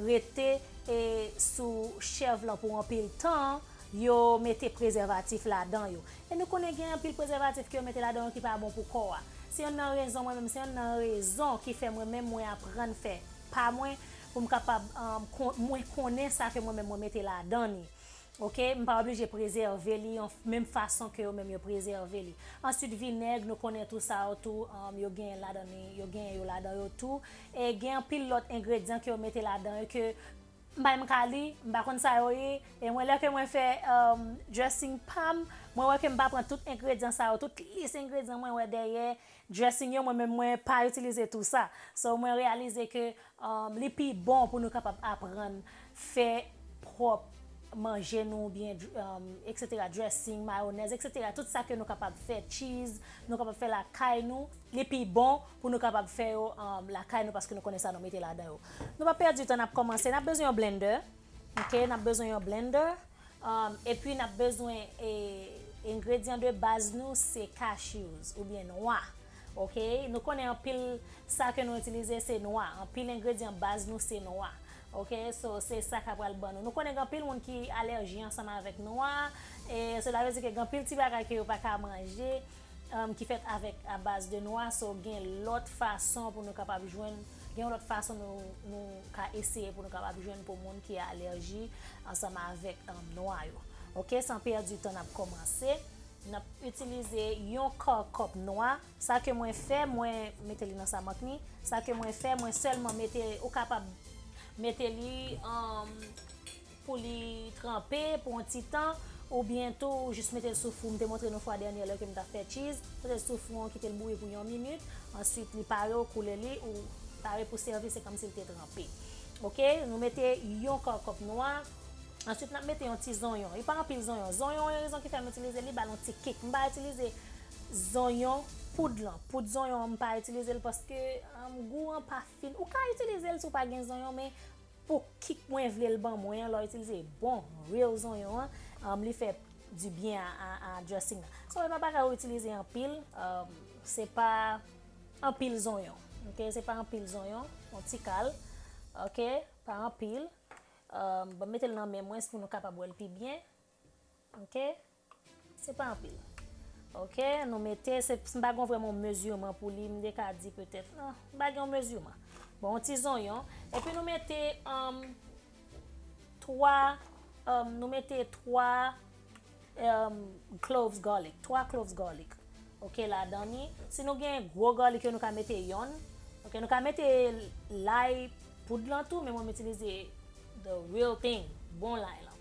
rete e sou chèv lan pou anpil tan, yo mete prezèvatif ladan yo. E nou konnen gen anpil prezèvatif ke yo mete ladan yo ki pa bon pou kò a. Se yonn nan rezon mwen menm, se yonn nan rezon ki fè mwen menm mwen aprann fè pa mwen pou m kapab mwen konnen sa ke mwen menm mwen mete ladan ni. Ok, m pa oblije prezève li yon menm fason ke yo menm yo prezève li. Answit vinèg, nou konnen tou sa yo tou yo genyen ladan li, yo genyen yo ladan yo tou. E gen anpil lòt engredyan ke yo mete ladan yo ke m pa menm ka li, m pa konn sa yo ye. E mwen lè ke mwen fè dressing pa m, mwen wè ke m pa pran tout engredyan sa yo, tout lis engredyan mwen wè dèyè dressing yo mwen menm mwen pa itilize tou sa. So mwen reyalize ke Li pi bon pou nou kapab aprann fè pwòp manje nou oubyen etc dressing, mayonèz etc tout sa ke nou kapab fè cheese nou kapab fè lakay nou li pi bon pou nou kapab fè yo lakay nou paske nou konnen sa nou mete ladan yo. Nou pa pèdi tan nap kòmanse nap bezwen yon blender ok nap bezwen yon blender. Epi nap bezwen engredyan de baz nou se cashews oubyen nwa ok nou konnen anpil sa ke nou itilize se nwa anpil engredyan baz nou se nwa ok so se sa ka pral ban nou nou konnen gen anpil moun ki alèji ansanm avèk nwa e sela vle di ke gen anpil ti bagay ke yo paka manje ki fèt avèk a baz de nwa so gen lòt fason pou nou kapab jwenn gen yon lòt fason nou ka eseye pou nou kapab jwenn pou moun ki alèji ansanm avèk nwa yo ok san pèdi tan nap kòmanse nap itilize yon kò kòp nwa sa ke mwen fè mwen mete li nan sa mank ni sa ke mwen fè mwen sèlman mete ou kapab mete li an pou li tranpe pou yon ti tan ou byen tou ou jis metel sou fou m te montre nou fwa dènyè lè kem tap fè tchiz metel sou fou an kitel bouyi pou yon minit answit li pare ou koule li ou pare pou sèvi se kòmsi li te tranpe ok nou mete yon kò kòp nwa answit nap mete yon ti zonyon li pa anpil zonyon zonyon yon rezon ki fèm itilize li bal yon ti kik m pa itilize zonyon poud lan poud zonyon an m pa itilizel paske gou an pa fin ou ka itilizel si w pa gen zonyon men Pou kik mwen vlel ban mwen an lè itilize bon real zonyon an li fè du byen a dressing nan so epa bagay ou itilize anpil se pa anpil zonyon ok se pa anpil zonyon yon ti kal ok pa anpil banm metel nan men mwen pou nou kapab wèl pi byen ok. Se pa anpil. Ok, nou mete, m pa gen yon vrèman yon mezireman pou li, m te ka di petèt, m pa gen yon mezireman. Bon, yon ti zonyon, epi nou mete 3, nou mete 3 cloves garlic, 3 cloves garlic, ok, ladan ni. Si nou gen gwo garlic yo, nou ka mete yonn. Ok, nou ka mete lay poud lan tou, men mwen m itilize the real thing, bon lay lan.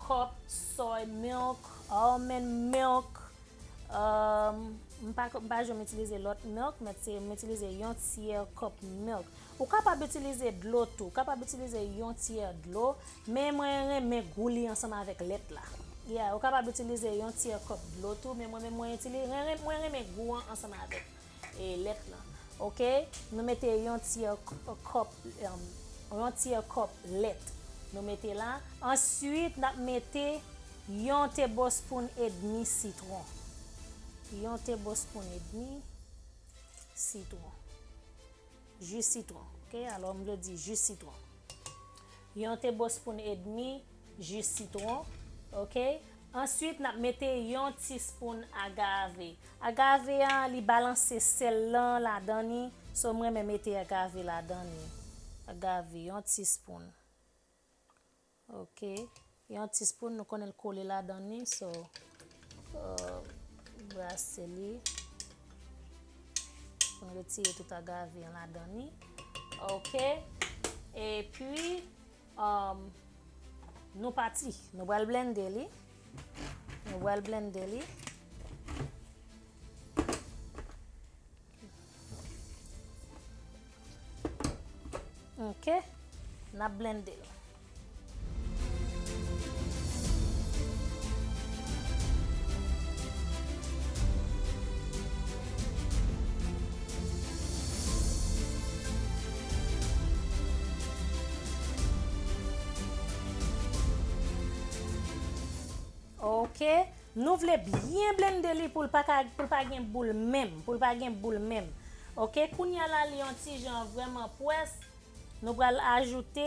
Cup soy milk almond milk m pa janm itilize lòt milk m itilize yon tyè cup milk ou kapab itilize dlo tou ou kapab itilize yon tyè dlo men mwen renmen gou li ansanm avèk lèt la ou kapab itilize yon tyè cup dlo tou men mwen renmen gou an ansanm avèk E lèt lan. Ok. Nou mete yon tyè kòp, yon tyè kòp lèt. Nou mete la. Answit nap mete yon tebospoun edmi sitwon. Yon tebospoun edmi sitwon. Ji sitwon. Ok. Alò m vle di ji sitwon. Yon tebospoun edmi. Jus sitron ok answit nap mete yon ti spoon agave agave an li balanse sèl lan ladan ni so m renmen mete agave ladan ni agave yon ti spoon ok yon ti spoon nou konnen l kole ladan ni so brase li pou n retire tout agave an ladan ni ok epi. Nou pati Nou pral blende li Nou pral blende li Ok Nap blende l Ok Nou vle byen blende li poul pa ka poul pa gen boul menm poul pa gen boul menm ok kounya la li yon ti jan vrèman pwès Nou pral ajoute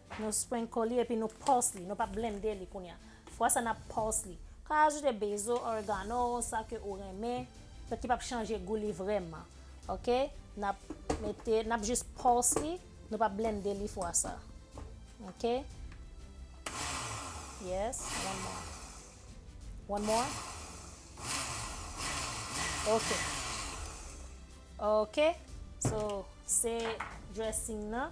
Nou sprinkle li epi nou pulse li, nou pa blende li kounye a. Fwa sa nap pulse li. Ou ka ajoute basil, oregano, sa ke ou renmen, ki pap chanje gou li vrèman. Ok, nap mete, nap jis pulse li, nou pa blende li fwa sa. Ok, yes, one more. One more. Ok. Ok, so se dressing nan.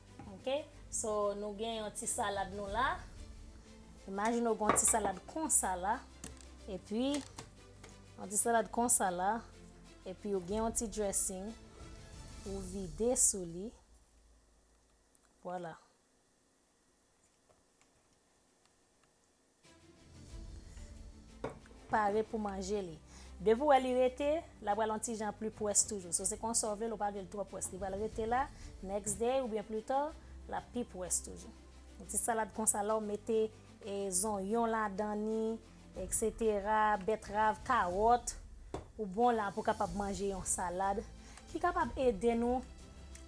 Ok so nou gen yon ti salad nou la imajine ou gen yon ti salad konsa la epi yon ti salad konsa la epi ou gen yon ti dressing ou vide sou li wala. pare pou manje li depi ou wè li rete la pral yon ti jan pli pwès toujou so se konsa ou vle l ou pa vle l twò pwès li pral rete la next day oubyen pli ta lap pi pwès toujou yon ti salad konsa la ou mete e zonyon ladan ni etc betrav kawòt ou bon la pou kapab manje yon salad ki kapab ede nou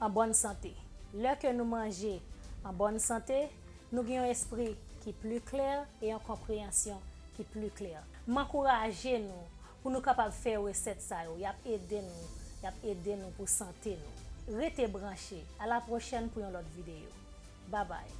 an bòn sante lè ke nou manje an bòn sante Nou gen yon espri ki pli klè e yon konpreyansyon ki pli klè. M ankouraje nou pou nou kapab fè resèt sa yo, y ap ede nou, y ap ede nou pou sante nou. Rete branche, a la pwochèn pou yon lòt videyo. Babay!